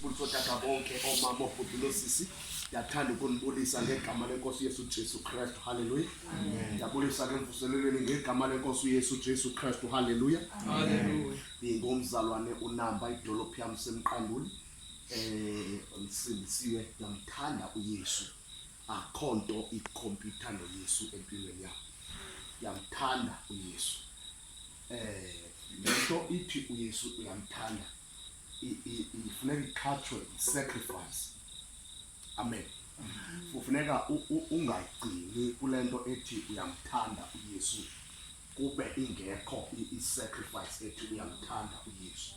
Sibuliso tata bonke omama obhuti losisi ndiyathanda ukunibulisa ngegama lenkosi uyesu jesu kristu halleluya ndiyabulisa ke mvuselelweni ngegama lenkosi uyesu jesu kristu halleluya ndingomzalwane unamba idolophu yam semqanduli um ndisindisiwe ndiyamthanda uyesu akho nto ikhompyutha noyesu empilweni yam ndiyamthanda uyesu um le nto ithi uyesu uyamthanda ifuneka ikhatshwe sacrifice amen kufuneka ungagcini kule nto ethi uyamthanda uyesu kube ingekho i-sacrifice ethi uyamthanda uyesu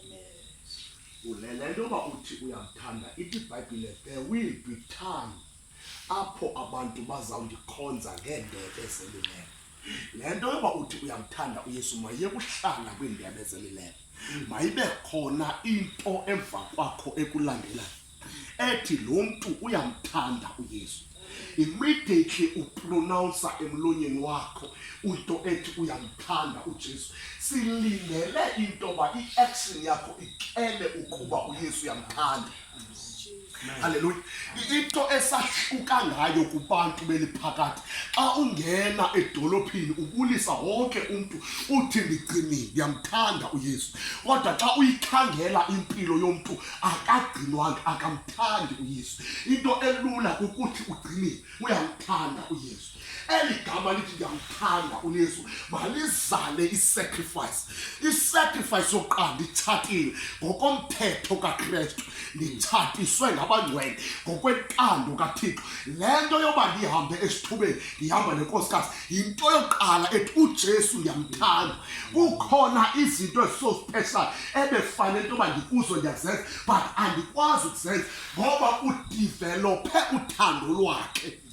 le nto yoba uthi uyamthanda ithi ibhayibhile there will be time apho abantu bazawundikhonza ngeendebe zemilengo le nto yoba uthi uyamthanda uyesu mayiyekuhlala kwiindebe zelileyo mayibe khona into emva kwakho ekulandelayo ethi lo mntu uyamthanda uyesu immediately uprononsa emlonyeni wakho into ethi uyamthanda ujesu silindele into yoba i-action yakho ityele ukuba uyesu uyamthanda halleluya into esahluka ngayo kubantu beliphakathi xa ungena edolophini ubulisa wonke umntu uthi ndigcinile ndiyamthanda uyesu kodwa xa uyikhangela impilo yomntu akagcinwanga akamthandi uyesu into elula kukuthi ugcinile uyamthanda uyesu eli gama lithi ndiyamthanda uyesu malizale isacrifice isacrifice yokuqala nditshatile ngokomthetho kakristu nditshatiswe ngabangcwele ngokwentando kathixo le nto yoba ndihambe esithubeni ndihamba nenkosikazi yinto yokuqala ethi ujesu ndiyamthanda kukhona izinto ezisosipeshali ebefanele into yoba ndikuzo ndiyazenza but andikwazi ukuzenza ngoba udivelophe uthando lwakhe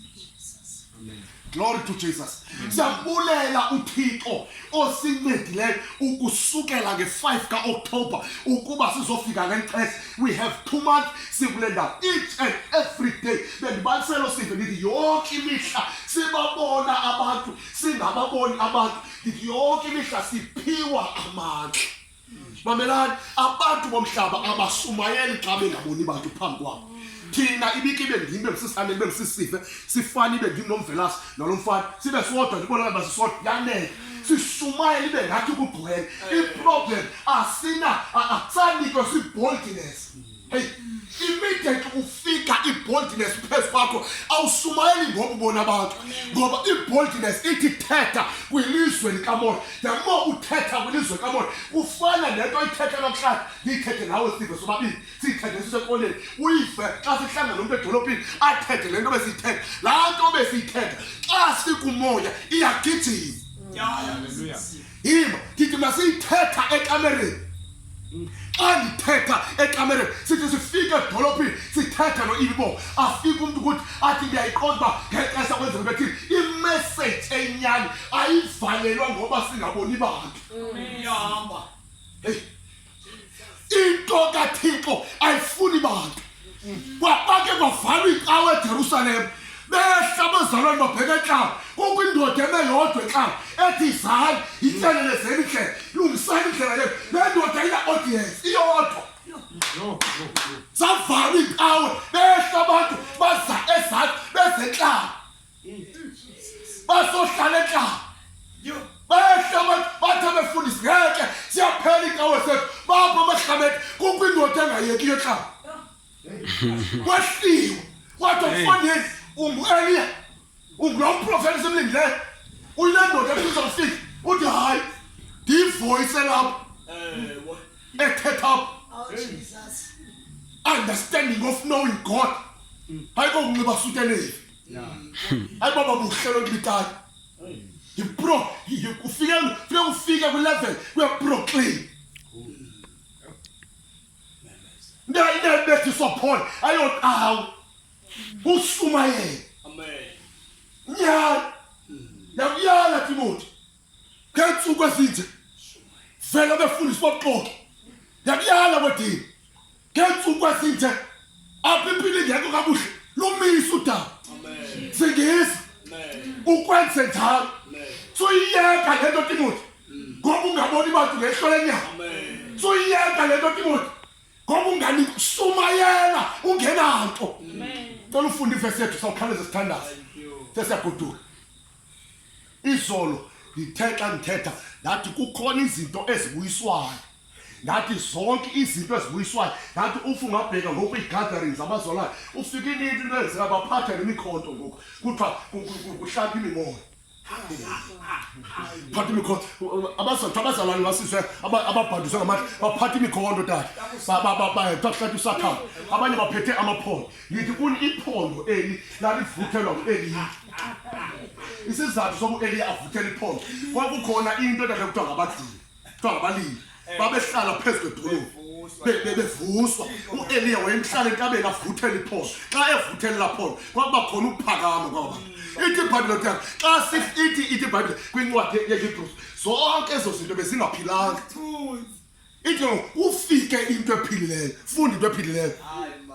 Glory to Jesus. Siyabulela uThixo osincedileyo ukusukela nge-5 ka-Oktober ukuba sizofika ngexesha. We have two months sikule ndawo each and every day. Bendibaliselo sive ndithi yonke imihla sibabona abantu singababoni abantu ndithi yonke imihla siphiwa amandla. mamelani abantu bomhlaba abasumayeli xa bengaboni bantu phambi kwabo thina ibike ibe ndim ibe msisane ibe msisive sifane ibe ndim nomvelasi nalo mfana sibe sodwa ndibonakala uba sisodwa yanele sishumayela ibe ngathi kugcwele iproblem asina asanikwe si-boldiness Hey, immediate ufika iboldness phezu kwakho awusumayeli ngoba ubona abantu ngoba iboldness ithi thetha kwilizwe likamoya yamo uthetha kwilizwe likamoya ufana nento ayithetha namhlanje ndiyithethe nawe sive sobabini siyithethe sisekoleni uyive xa sihlangana nomntu edolophini athethe le nto besiyithetha laa nto besiyithetha xa sikumoya iyagijima yima ndithi masiyithetha ekamereni xa ndithetha ekamereni sithi sifike edolophini sithethe lo ibo afike umntu ukuthi athi ndiyayiqonda uba ngexesha kwenzeka bethi imeseji enyani ayivalelwa ngoba singaboni bantu iyahamba heyi into kathixo ayifuni bantu kwake kwavalwa icawa ejerusalem behla abazalwane babheka entlanga kukho indoda eme yodwa entlanga ethi zali yityelelezeni indlela lungisani indlela yenu le ndoda ina-audience iyodwa zavala iinkawe behla abantu baza ezantsi bezentlanga basohlala entla bayahlabathi bathi abefundisi ngeke siyaphela inkawo sethu bapho abahlabethi kukho indoda engayekiyo xa kwehliwe kwathi okufandeni ungu-eliya ungulo mprofeta esemlindileyo uyile ndoda efisa kufika uthi hayi ndiyivoyise lapho ethetha apho understanding of knowing god hayi kokunxiba sutenevi hayi baba buhle loo nto ibitayo yipro ufike fike ufike kwilevel kuyaproclaim ndayibethiswa phole ayoqawu ushumayele nyala yakuyala timoti ngeentsuku ezinje vele befundiswa buxoki yakuyala kwedini ngentsuku esinje apha impilo ingekho kakuhle lumise udaba singisa ukwenze njalo suyiyeka le nto timothi ngoba ungaboni bantu ngehlo lenyama suyiyeka le nto timothi ngoba ungani sumayela ungenanto cela ufunde ivesi yethu sawukhawuleza sithandaza sesiyagoduka izolo ndithe xa ndithetha ndathi kukhona izinto ezibuyiswayo ndathi zonke izinto ezibuyiswayo ndathi ufa ungabheka ngoku ii-gatherings abazolayo ufike ininto into enzeka baphatha nemikhonto ngoku kuthiwa kuhlapha imimoya phatha imikhonto abazathu abazalwane basizwe ababhandiswe ngamandla baphatha imikhonto tata kuthiwa kuhlapha isakhama abanye baphethe amaphondo ngithi kuni iphondo eli lalivuthelwa ngueliya isizathu soku eliya avuthela iphondo kwakukhona into edade kuthiwa ngabadlili kuthiwa ngabalili babehlala phezu kwedolophu bebevuswa ueliya wayemhlala entabeni avuthela iphondo xa evuthelela phondo kwakuba khona ukuphakama kwaba ithi ibhayibhile kuthiwa xa sithi ithi ibhayibhile kwincwadi yehebruws zonke ezo zinto bezingaphilanga ithi ufike into ephilileyo funda into ephilileyo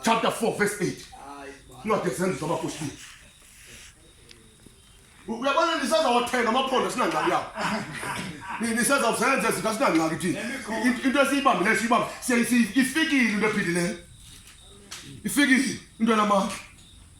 chapter 4 verse 8 incwadi ezenzi zabapostile uyabona nisazawathenga amaphondo sinangxaki yawo nisazawuzenza zinto sinangxaki thina into esiyibambileyo siyibambe ifikile into ephilileyo ifikile into enamandla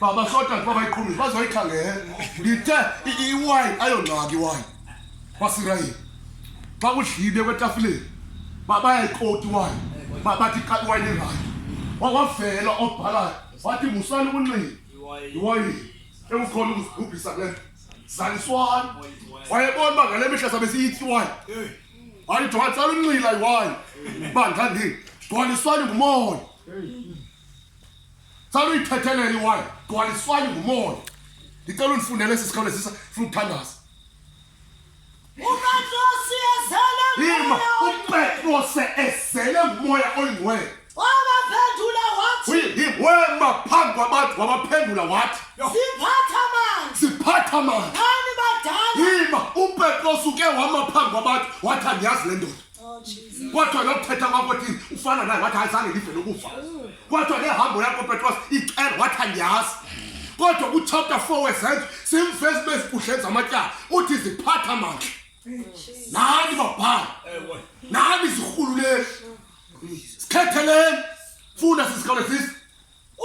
baba sota kuba bayiqhumile bazoyikhangela ndithe iwayini ayongxaki iwayini wasirayini xa kudlibe kwetafileni bayayikoti iwayini bathi xa iwayini irayi wawavela obhalayo wathi musani ukunxiba iwayini ekukhona ukuzibhubhisa kule nto zaliswani wayebona uba ngale mihla sabe siyithi iwayini wayithi watsala unxila iwayini uba ndandini gcwaliswani ngumoya Salo uyithethelela iwali, gcwaliswani ngumoya. Ndicela undifundele esi sikole sisa funa ukuthandaza. UPetrose ezele Ima ngumoya uPetrose ezele ngumoya oyingcwele. wabaphendula wathi Uyiwema phambi kwabantu wabaphendula wathi siphatha manje siphatha manje. khani badala Ima uPetrose uke wama phambi kwabantu wathi andiyazi le ndoda. Kwathiwa lo mthetha kwakho thini ufana naye wathi ayizange ndive lokufa. Kwathiwa le hambo yakho Petros icela wathi andiyazi. Kodwa ku chapter 4 wezenzo simvezi bezikuhleni zamatyala uthi ziphatha mandla. Nani babhala. Nani zirhululeni. Sikhetheleni. Funda sisikole sisi.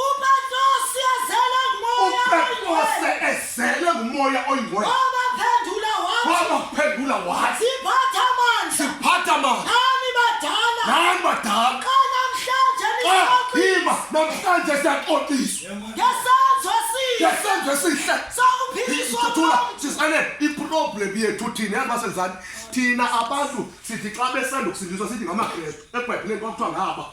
uPetrose azele ngumoya uPetrose ezele ngumoya oyingcwele wabaphendula wathi wabaphendula wathi siphatha amandla siphatha amandla nani badala nani badala xa namhlanje nixoxiswa namhlanje siyaxoxiswa ngesenzo esihle ngesenzo esihle sokuphiliswa sisane iproblem yethu thina yazi basenzani thina abantu sithi xa besanda ukusindiswa sithi ngamakrestu ebhayibhileni kwakuthiwa ngaba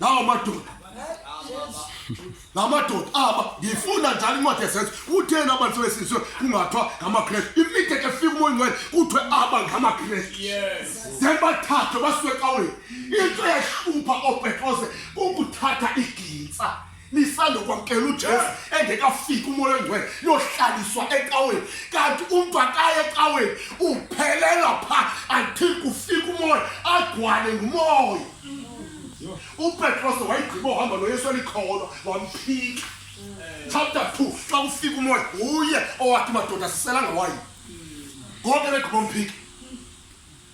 lawo madoda la madoda aba ngifuna njalo incwadi yesenzo kutheni abantu sebesizwe kungathiwa ngamakrestu imide ke fika umoya ngcwele kuthiwe aba ngamakrestu then bathathwe basuke ecaweni into ehlupha oopetrose kukuthatha igintsa nisandokwamkela ujesu engekafiki umoya ongcwele yohlaliswa ecaweni kanti umntu akaye ecaweni uphelela pha until kufika umoya agcwale ngumoya upetroso wayigqiba ohamba noyesu elikholwa wamphika chapter two xa kufika umoya uye owathi madoda siselanga wayo ngoke begqiba umphika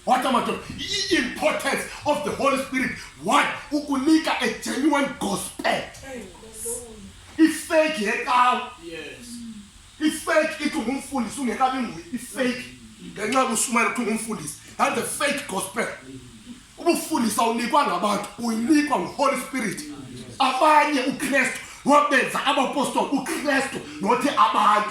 Wathi amadoda, i-importance of the Holy Spirit, one, ukunika a genuine gospel. Ifake yecawa. Yes. Ifake ithi ungumfundisi ungekabi nguye, ifake. Ngenxa yokushumayela ukuthi ungumfundisi, that's a fake gospel. Ubufundisa unikwa ngabantu, uyinikwa nguHoly Spirit. Abanye uKristu wabenza abapostoli uKristu nothi abantu.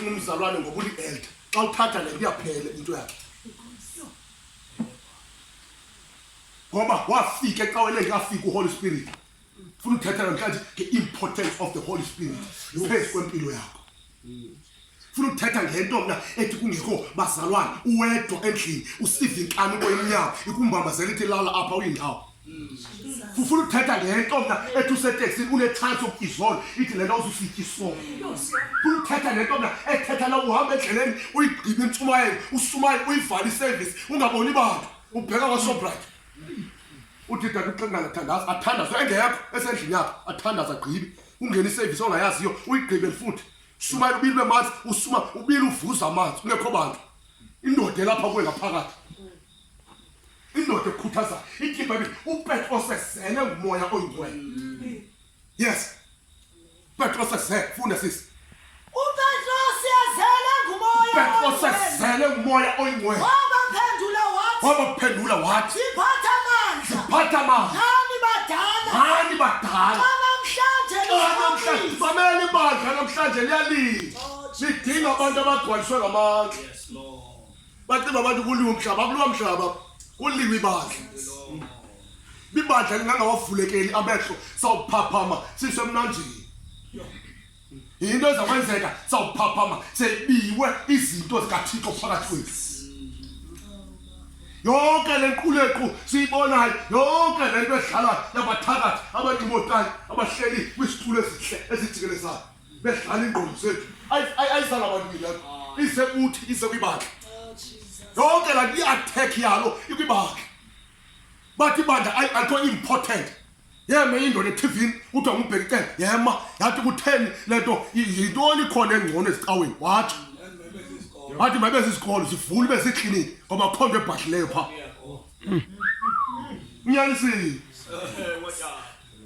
umzalwane ngoba ulielda xa uthatha le nto iyaphela into yakhe ngoba wafika ecaweni engafika uholy spirit funa uthetha namhlanje nge-importance of the holy spirit phezu kwempilo yakho funa uthetha ngento mna ethi kungekho bazalwane uwedwa endlini usiva inkani uboyimnyango ikumbambazela ithi lala apha uyindawo ufuna uthetha le nto mna ethi useteksini unetshansi yokuthi izolo ithi le nto uzufika isolo funa uthetha le nto mna ethetha la uhamba endleleni uyigqibe intshumayelo usumayele uyivale iservice ungaboni bantu ubheka kwasobright uthi dade uxingana athandaza athandaze engekho esendlini yakho athandaza agqibe ungena iservice ongayaziyo uyigqibe futhi sumayele ubili bemanzi usuma ubili uvuza amanzi ungekho bantu indoda elapha kuwe ngaphakathi indoda ekhuthazayo ithi ibhayibhile upetros esele ngumoya oyingcwele mm. yes petros esele funda sisi upetros esele ngumoya petros esele ngumoya oyingcwele wabaphendula wathi wabaphendula wathi siphatha amandla siphatha amandla nani badala nani badala namhlanje bamele ibandla namhlanje liyalila oh, sidinga abantu abagcwaliswe ngamandla bacinga abantu kuliwe umhlaba akuliwa mhlaba kuliwe ibandla ibandla lingangawavulekeli amehlo sawuphaphama sisemnanjini yinto ezakwenzeka sawuphaphama sebiwe izinto zikathixo phakathi kwethu yonke le nqulequ siyibonayo yonke le nto edlalayo yabathakathi abancimotayo abahleli kwisitulo esihle esijikelezayo bedlala iingqondo zethu ayisala abantu milapho isekuthi isekwibandla yonke laa nto iattack yalo ikwibandla bathi ibandla alikho important yema indoda ethivini kuthiwa ngubheki cele yema yathi kutheni le nto yintoni khona engcono ezicaweni watsho wathi mabe zisikolo zivule ibe zikliniki ngoba kho nto ebhadlileyo phaa unyanisile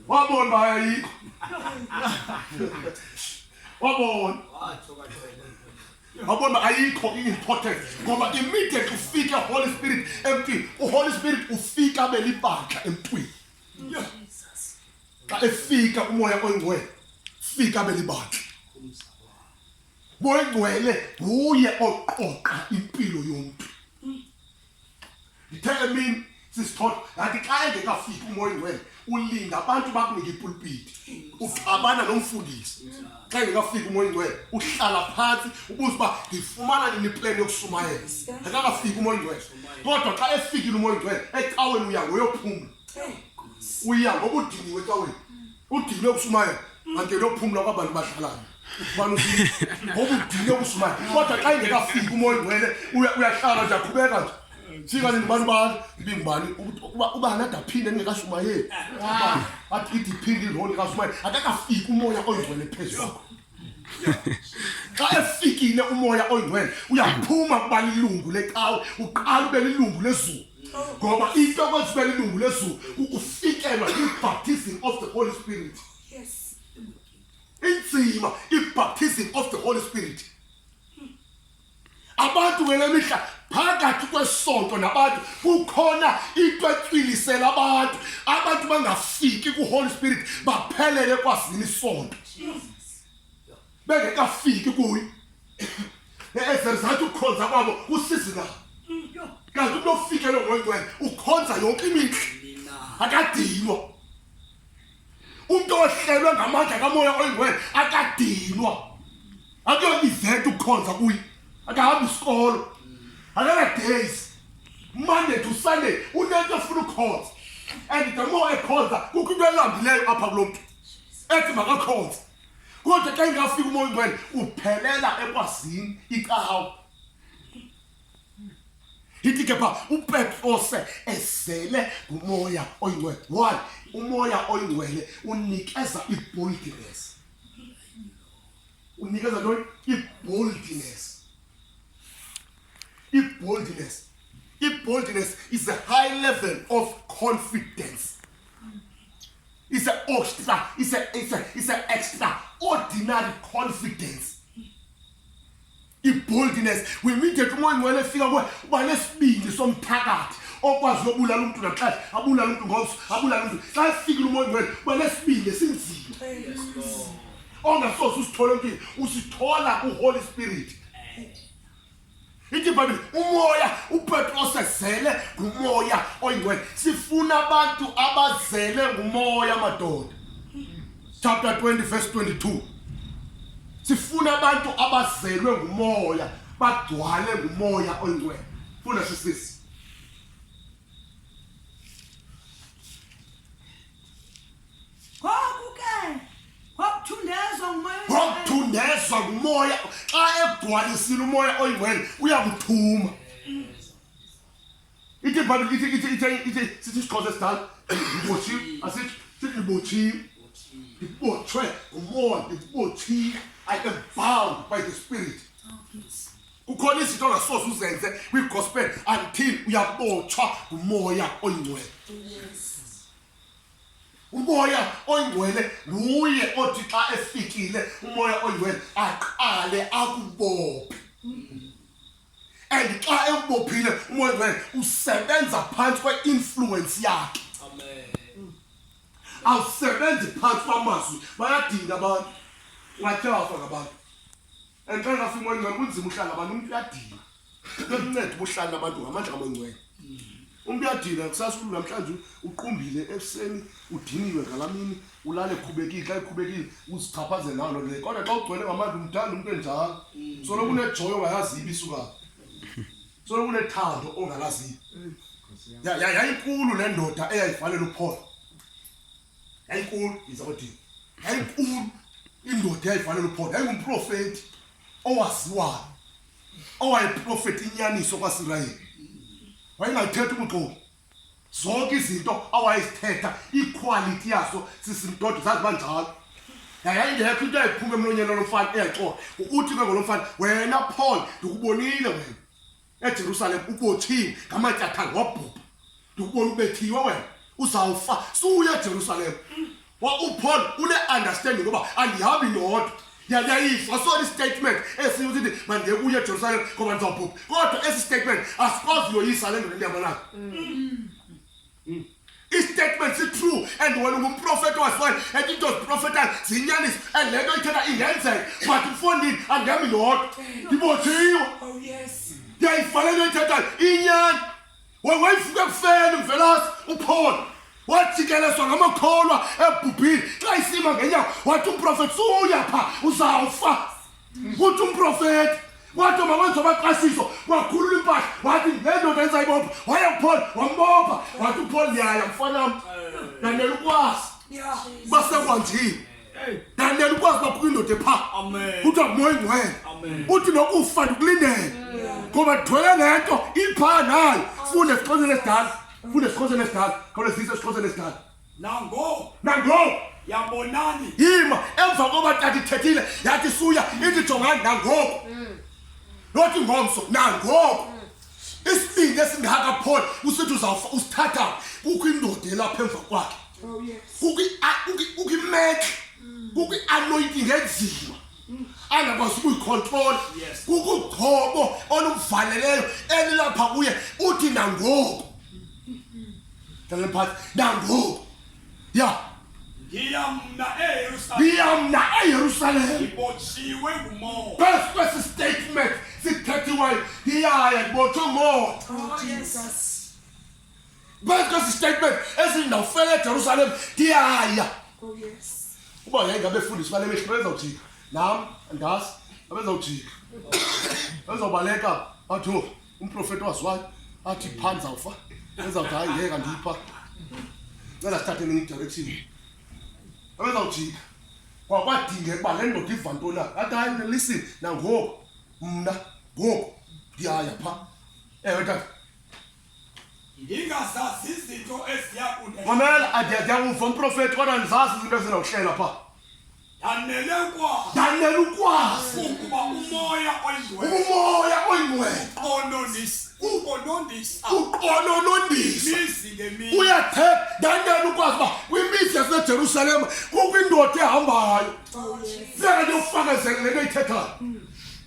wabona uba ayayikho wabona wabona ayikho i-importance ngoba immediate ufike holy spirit emntwini uholy spirit ufika abe libandla emntwini xa efika umoya oyingcwele fika abe libandla boyingcwele nguye oqoqa impilo yomntu ndithe emini sisithole ngathi xa engekafiki umoya ingcwele ulinda abantu bakunike ipulpiti uxabana nomfundisi xa engekafiki umoya ingcwele uhlala phantsi ubuze uba ndifumana nini ipleni yokusumayela akakafiki umoya ingcwele kodwa xa efikile umoya ingcwele ecaweni uya ngoyophumla uya ngokudiniwe ecaweni udile ukushumayela kanti lophumla kwabantu badlalayo ubani ngoba udile ukushumayela kodwa xa ingekafiki umoya ingcwele uyahlala nje aqhubeka nje fika nini bantu bani ibingubani ubani ade aphinde engekashumayeli athi idiphinde iroli kashumayeli akakafiki umoya oyingcwele phezulu xa efikile umoya oyingcwele uyaphuma kuba lilungu lecawe uqala ube lilungu lezulu ngoba into okwenza ube lilungu lezulu kukufikelwa yi-baptism of the holy spirit inzima i-baptism of the holy spirit abantu ngele mihla phakathi kwesonto nabantu kukhona into etwilisela abantu abantu bangafiki kuholy spirit baphelele kwazini isonto bengekafiki kuye ezizathu ukukhonza kwabo kusizi na kanti umntu ofikele ngongcwele ukhonza yonke imihla akadinwa umntu ohlelwe ngamandla kamoya oyingwele akadinwa akuyona iventi ukukhonza kuye akahambi isikolo akana-days monday to sunday unento efuna ukukhonza and the more ekhonza kukho into elambileyo apha kulo mntu ethi makakhonza kodwa xa ingafika umoya ungcwele uphelela ekwazini icawa Yithi ke pha uPetrose ezele ngumoya oyingcwele. Why? Umoya oyingcwele unikeza iboldness. Unikeza ntoni? Iboldness. Iboldness. Iboldness is a high level of confidence. It's an extra, it's a, it's a, it's an extraordinary confidence. iboldness wemidet umoya ingcwele efika kuwe uba nesibindi somphakathi okwazi yobulala umntu naxesha abulala umntu ngomso abulala umntu xa efikile umoya ingcwele uba nesibindi esinzima ongasoze usithole empini usithola kuholy spirit ithi ibhayibhile umoya upetros ezele ngumoya oyingcwele sifuna abantu abazele ngumoya madoda chapter 20 verse 22 sifuna abantu abazelwe ngumoya bagcwale ngumoya oyingcwele funa sisisi ngokuthundezwa ngumoya xa egcwalisile umoya oyingcwele uyakuthuma ite bani ite ite ite ite sithi siqoze sidala ngibotshi asithi sithi ngibotshi ngibotshwe ngumoya ngibotshi i am bound by the spirit kukhona izinto ongasoze uzenze kwigospel until uyabotshwa ngumoya oyingcwele umoya oyingcwele nguye othi xa efikile umoya oyingcwele aqale akubophe mm. and xa ekubophile umoya oyingcwele usebenza phantsi kweinfluence yakhe awusebenzi phantsi kwamazwi bayadinga abantu ungathe wafa ngabantu and xa ngafika umoya oyingcwele kunzima uhlala abantu umntu uyadinga bemnceda ubuhlala abantu ngamandla kamoya oyingcwele umntu uyadina kusasa umntu namhlanje uqumbile ekuseni udiniwe ngala mini ulale ekhubekile xa ekhubekile uzichaphazele nawo loo nto kodwa xa ugcwele ngamandla umthanda umntu enjalo mm. solo kunejoyo ongayazibi isuka solo kunethando ongalazibi mm. yayinkulu le ndoda eyayifanele uphola yayinkulu izakodini yayinkulu indoda eyayifanele uphola yayingumprofeti owaziwayo owayeprofeti inyaniso kwasirayeli wayengalithetha ubuxoki zonke izinto awayezithetha iquality yaso sisimdodo zazi banjalo yayayingekho into ayiphuma emlonyeni olomfana eyaxoka uthi ke ngolomfana wena paul ndikubonile wena ejerusalem ubothini ngamatyathanga wabhubha ndikubona ubethiwe wena uzawufa suya ejerusalem upaul une-understanding yoba andihambi ndodwa yayayifa sona istatement esiyo ukuthi mandiyekuye ejerusalem ngoba ndizawubhubha kodwa esi statement asikwazi uyoyisa le ndoda endihamba nayo mm. mm. istatement sitrue and wena ungumprofeti wasifane and into ziprofetayo ziyinyaniso and le nto ithetha ingenzeka but mfondini andihami ndodwa ndibojiwe oh, ndiyayifanele into ithethayo inyani Wa- wayivuka ekufeni mvelasi uphole wajikelezwa ngamakholwa ebhubhile xa isima ngenyawo wathi umprofeti suya pha uzawufa kuthi umprofeti wathi mawenza amaqasiso wakhulula impahla wathi nendoda enza ibopha waya kuphole wambopha wathi uphole ndiyaya mfanam ndanela ukwazi basekwandile than then ukwazi uba kukho indoda epha kuthiwa moyi ngwena uthi nokufa ndikulindele ngoba ndithwele le nto ipha nayo funde esixhoseni esidala funde esixhoseni esidala khawule zise esixhoseni esidala nango nango yabonani yima emva koba tata ithethile yathi suya ithi jongani nangoku mm. nothi ngomso nangoku isibindi esingaka paul usithi uzawufa usithatha kukho indoda elapha emva kwakhe oh, kukho imetle kukho i-anointing enzima angakwazi ukuyikhontrola kukho ugcobo oluvaleleyo elilapha kuye uthi nangoku nalemphathi nangoku ya ngiyamna eyerusalem ibotshiwe ngumoya phezu kwesi statement sithethiweyo iyaya ndibotshwe ngumoya oh, phezu kwesi statement esindawufela ejerusalem ndiyaya oh, uba yayingabefundisi bale mehlo bezawujika nam andazi abezawujika bezobaleka batho umprofeti waziwayo athi phani zawufa ezawuthi hayi yeka ndipha cela sithathe enye idirection abezawujika kwakwadingeka uba le ndoda iva nto na athi hayi mna listen nangoku mna ngoku ndiyaya pha ewe tata ndingazazi izinto eziya kunde mamela andiyakuva umprofeti kodwa ndizazi izinto ezinokuhlela pha Ndanele ukwazi ndanele ukwazi ukuba umoya oyingcwele umoya oyingcwele onondisa ukonondisa ukonondisa imizi ngemizi uyathetha ndanele ukwazi uba kwimizi yasejerusalem kukho indoda ehambayo seka ndiyokufakazela le nto ithethayo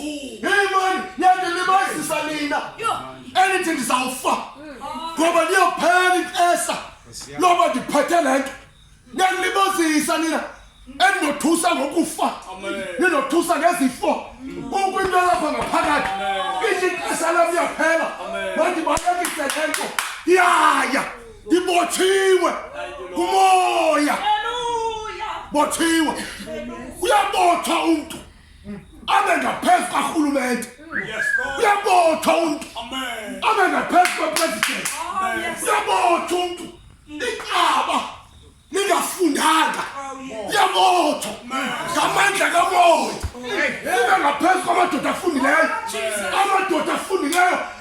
imani yandilibazisa nina endithi ndizawufa ngoba ndiyophela ixesha loba ndiphethe le nto yandilibazisa nina endinothusa ngokufa ndinothusa ngezifo kukho into yalapha ngaphakathi ithi ixesha lam yaphela mandibalekise le nto yaya ndibotshiwe ngumoya botshiwe uyabotshwa umntu abe ngaphezu karhulumente uyabotha umntu abe ngaphezu kwepresident uyabotha umntu iqaba ningafundanga uyabotha ngamandla kamoya ibe ngaphezu kwamadoda afundileyo amadoda afundileyo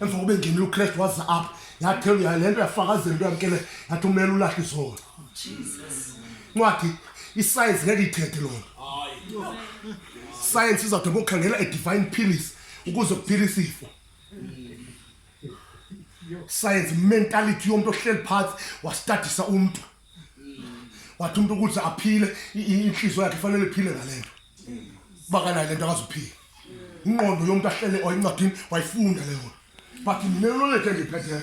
emva kokuba engenile ukristu waza apha yathelu yale nto yafakazela into yamkele yathi umele ulahle izolo ncwadi isayensi ngeke ithethe loo nto sayensi izawude ngokukhangela edivine pillis ukuze kuphile isifo sayensi mentality yomntu ohleli phantsi wastadisa umntu wathi umuntu ukuthi aphile inhliziyo yakhe fanele iphile ngalento bakanayo lento akazuphila inqondo yomuntu ahlele oyincwadini wayifunda leyo but mina knowledge engiphethe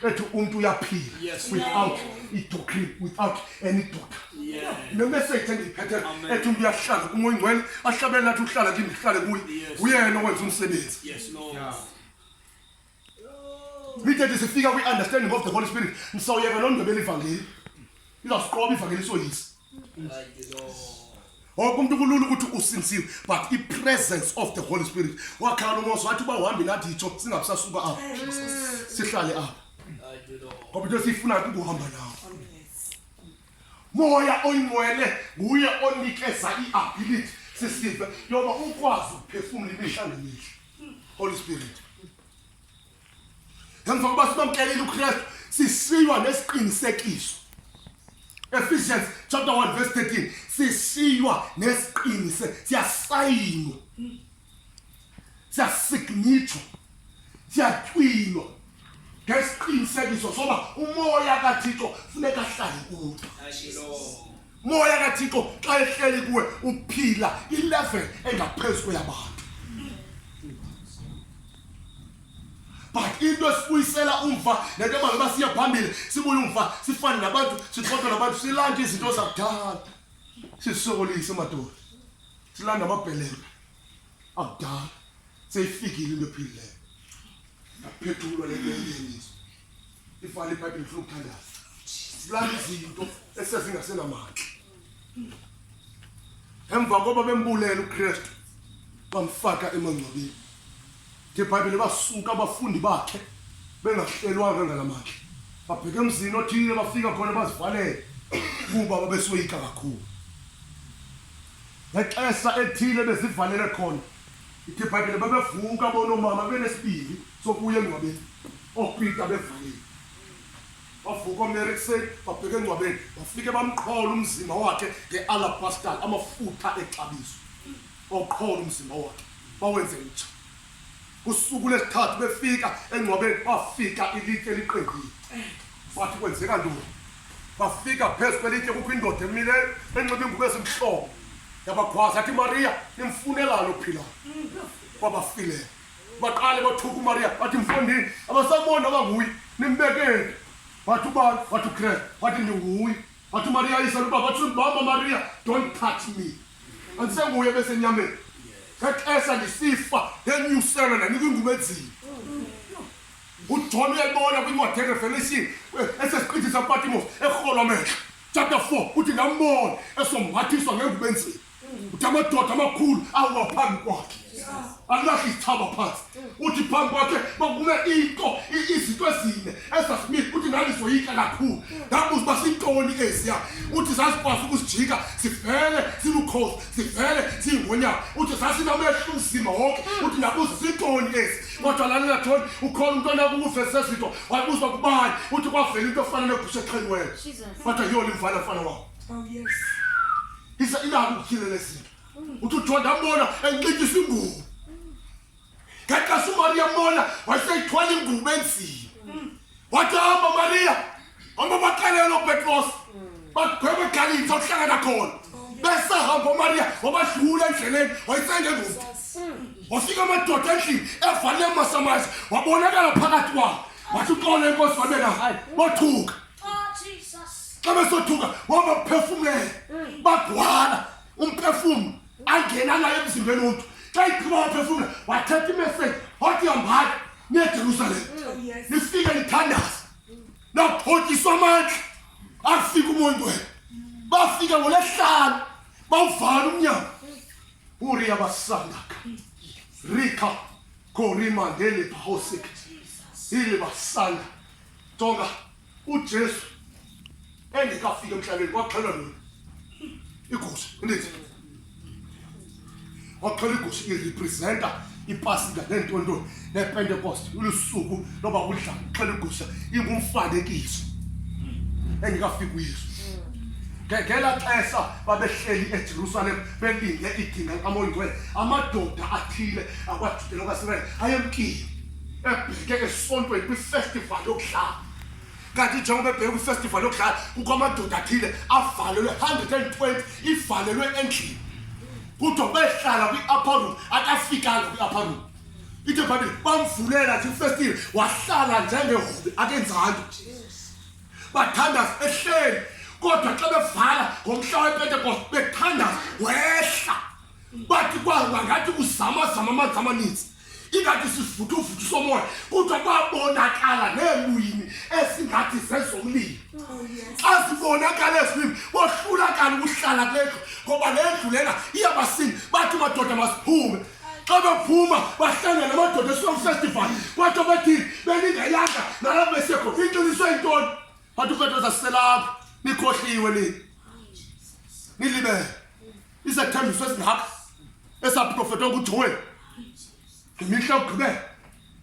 ethi umuntu uyaphila without idoctrine without any doctor nemessage engiyiphethe ethi umuntu uyahlala umoya ingcwele ahlabele nathi uhlala kimi ngihlale kuye uyena owenza umsebenzi Nithethe sifika kwi-understanding of the Holy Spirit, nisawuyeka loo ndebe elivangeli. Izawusiqoba ivangeli soyisa. Wonke umuntu kulula ukuthi usinsile, but i-presence of the Holy Spirit. Wakhala uMose wathi uba uhambe nathi yitsho singabisasuka apha. Sihlale apha. Ngoba into esiyifuna kukuhamba nawo. moya oyingcwele nguye onikeza i-ability sisive yoba ukwazi ukuphefumula imihla nemihla holy spirit emva kokuba sibamkelile ukristu sisiywa nesiqinisekiso ephesians chapter 1 verse 13 sisiywa nesiqinise siyasayinwa siyasignitshwa siyathwilwa ngesiqinisekiso soba umoya kathixo funeka ahlale kuwe moya kathixo xa ehleli kuwe uphila ilevel engaphezu kweyabantu but into esibuyisela umva nento ebalo uba siya phambili sibuye umva sifane nabantu sixoxe nabantu silande izinto zakudala sisokolise madoda silanda amabhelembe akudala seyifikile into ephilileyo naphethulwa le nto yeliso ifana ibhayibhile funa ukuthandaza silanda izinto esezingasenamandla emva koba bembulela ukristu bamfaka emangcwabeni ngebhayibhile basuka abafundi bakhe bengahlelwanga ngala mandla babheke emzini othile bafika khona bazivalele kuba babesoyika kakhulu ngexesha ethile bezivalele khona ithi ibhayibhile babevuka bonomama benesibili sokuya engcwabeni oopita bevalile bavuka omere ekuseni babheke engcwabeni bafike bamqhola umzimba wakhe nge-alabastal amafutha exabiso bawuqhola umzimba wakhe bawenze mtsha kusuku lesithathu befika engcwabeni bafika ilitye liqengile bathi kwenzeka ntoni bafika phezu kwelitye kukho indoda emileyo enxiba ingubo ezimhlobo yabakhwaza athi mariya nimfunelani ophilayo kwabafileyo baqale bathuka umariya bathi mfundini abasaboni abanguye nimbekeni wathi ubani wathi ukreste wathi ndinguye But Maria is a but to Mama Maria, don't touch me. And say we have a nyame. That as a thief, then you sell and you can go to uthole ebona kwincwadi erevelation esesiqithi sapatimo erholo mehla chapter 4 uthi ndambona esomhathiswa ngengubenziyo uthi amadoda amakhulu awa phambi kwakhe alahla izithaba phansi uthi phambi kwakhe bakume into izinto ezine ezasmith uthi ngandizoyitya kakhulu ndabuza uba sintoni eziya uthi zazikwazi ukusijika sivele silukhosi sivele siyingonyama uthi zasinamehla uzima wonke uthi ndabuza sintoni ezi kodwa lalela thoni ukhona umntu onakukuvezisa izinto wayibuzwa kubani uthi kwavela into efana negusha exheliweyo kodwa yiyona imvana mfana wabo Oh, yes. isa ilalo utyhilele zinto uthi uthiwa ndambona enxityisa ingubo ngexesha umariya mbona wayeseyithwala ingubo enzima wathi hamba mariya hamba baxelelo petros bagwebe egalitha uhlangana khona besahamba umariya wabadlula endleleni wayesengengubo wafika amadoda endlini evale emasamazi wabonakala phakathi kwabo wathi uxole inkosi wabena bothuka xa besothuka wabaphefumlela bagwala umphefumlo angena naye emzimbeni womntu xa iphuma waphefumla wathetha imeseji wathi hambani nejerusalem nifike nithandaza naphotyiswa amandla afika umoya wena bafika ngolesihlanu bawuvala umnyango uriya basandaka rika korima ngelipahosik ilibasanda Jonga, uJesu endikafika emhlabeni kwaxhelwa nini? Igusha, ndithi. Waxhelwa igusha irepresenta ipasika neentontoni nepentekoste ulusuku loba udla xhelwa igusha ingumfanekiso endikafika uyesu ngengela xesha babehleli ejerusalem belinde idinga likamoyingcwele amadoda athile akwajudela kwasirayeli ayemkile ebheke esontweni kwifestival yokudlala kanti njengoba ebheke kwifestival yokudlala kukho amadoda athile avalelwe 120 ivalelwe endlini kudwa behlala kwi-upper room akafikanga kwi-upper room ithe bhabile bamvulela nje ifestile wahlala njengehube akenzanto bathandaza ehleli kodwa xa bevala ngomhla wepentekoste bethandaza wehla bathi kwanga ngathi uzamazama amanzi amaninzi ingathi sivuthuvuthi somoya kodwa kwabonakala neelwini esingathi zezomlilo oh, azibonakala ezilwimi bohlulakala ukuhlala kule ndlu ngoba le ndlu lena iyabasini bathi madoda masiphume xa bephuma bahlangana namadoda esilong festival kwathi abathini beningayanga nalapho besekho inqiniswe yintoni bathi ufeto zaselapho nikhohliwe nini nilibele isethembiso esingaka esaprofetwa ngujoel ngemihla yokugqibela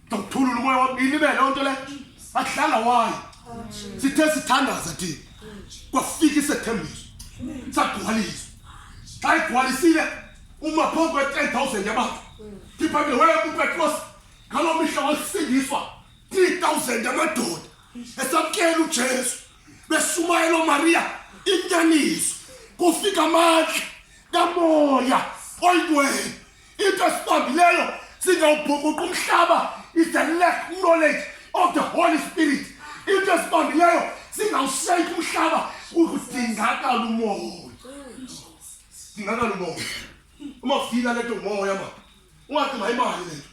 ndokuthulula umoya wam ilibele o nto le ahlala wayo sithe sithandaza thina kwafika isethembiso sagcwaliswa xa igcwalisile uma phambi kwe-ten thousand yabantu ndiphambile waye kupetros ngaloo mihla wasindiswa three thousand yamadoda esamkela ujesu beshumayelo Maria inyaniso kufika amandla kamoya oyintweni into esibambileyo singawubhukuqa umhlaba is the lack knowledge of the holy spirit into esibambileyo singawushayika umhlaba ukudingakala umoya dingakala umoya uma ufika lento umoya ma ungathi mayimali lento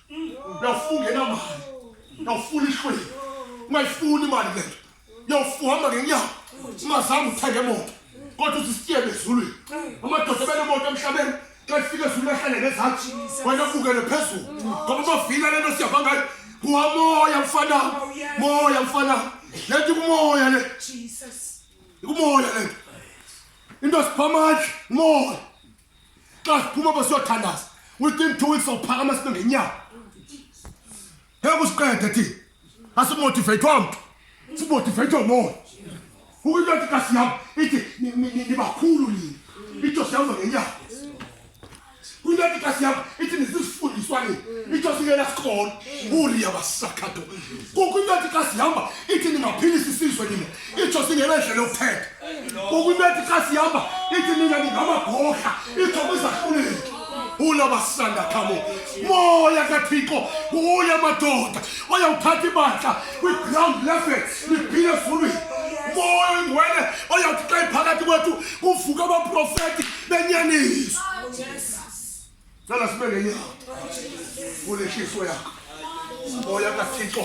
uyawufunga enamali uyawufuna ihlweli ungayifuni imali lento yawufuhamba ngenyawo ungazange uthenge emoto kodwa uzisitiyele ezulwini amadoda ebenemoto emhlabeni xa efika ezulwini ahlale ngezantsi wena bukele phezulu ngoba bavile le nto siyava ngayo nguwa moya mfana moya mfana le nto ikumoya le ikumoya le nto into sipha amandla moya xa siphuma basiyothandaza within two weeks awuphakama sibe ngenyawo ngeke usiqede thi asimotivate omntu simotivate omoya ukuyinto ethi kasi yam ithi nibakhulu nini itsho siyawuza ngenyanga kwinto ethi kasi yam ithi nizizifundiswa nini itsho singena sikolo uriya basakhato kukho into ethi kasi hamba ithi ningaphilisa isizwe nini itsho singenendlela yokuthetha ngoku into ethi xa sihamba ithi nina ningamagorha itsho kwizahluleki hula basanda khamo moya kathixo hula madoda oyawuthatha ibandla kwiground level liphile ezulwini moya oyingwele oyawuthi xa iphakathi kwethu kuvuka abaprofeti benyaniswa cela sibe ngenyawo kuleshiso yakho moya kathixo